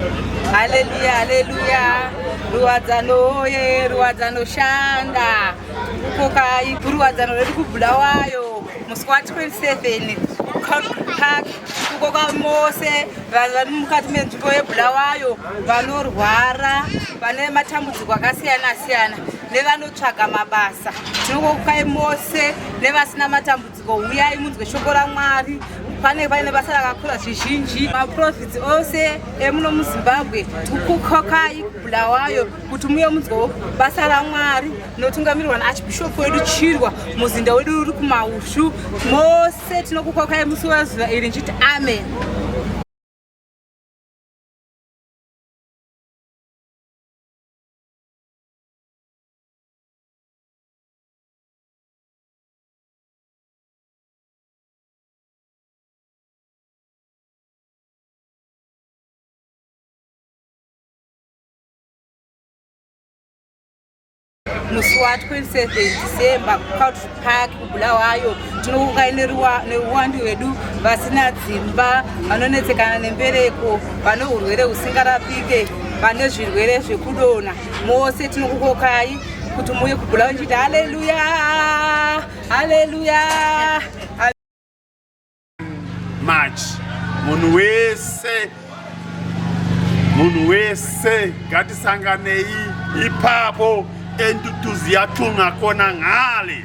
Haleluya, haleluya, ruwadzano ye, ruwadzano shanda kukokai kuruwadzano redu kubulawayo musi wa 27 park kukoka mose vanhu vari mukati menzvimbo yebulawayo vanorwara vane matambudziko akasiyana siyana nevanotsvaga mabasa tinokokai mose nevasina matambudziko uyai munzwe shoko ramwari pane paine basa rakakura zvizhinji maprofits ose emuno muzimbabwe kukokai bulawayo kuti muye munzwewo basa ramwari rinotungamirirwa naarchbishop wedu chirwa muzinda wedu uri kumaushu mose tinokukokai musi wezuva iri ndichiti amen musi wa 27 december kucountry park kubulawayo tinokukai neuwandu hwedu vasina dzimba vanonetsekana nembereko vane urwere husingarapike vane zvirwere zvekudona mose tinokukokai kuti muuye kubhula uchiti haleluya haleluya march munhu wese munhu wese ngatisanganei ipapo entutuziyatunakona ngale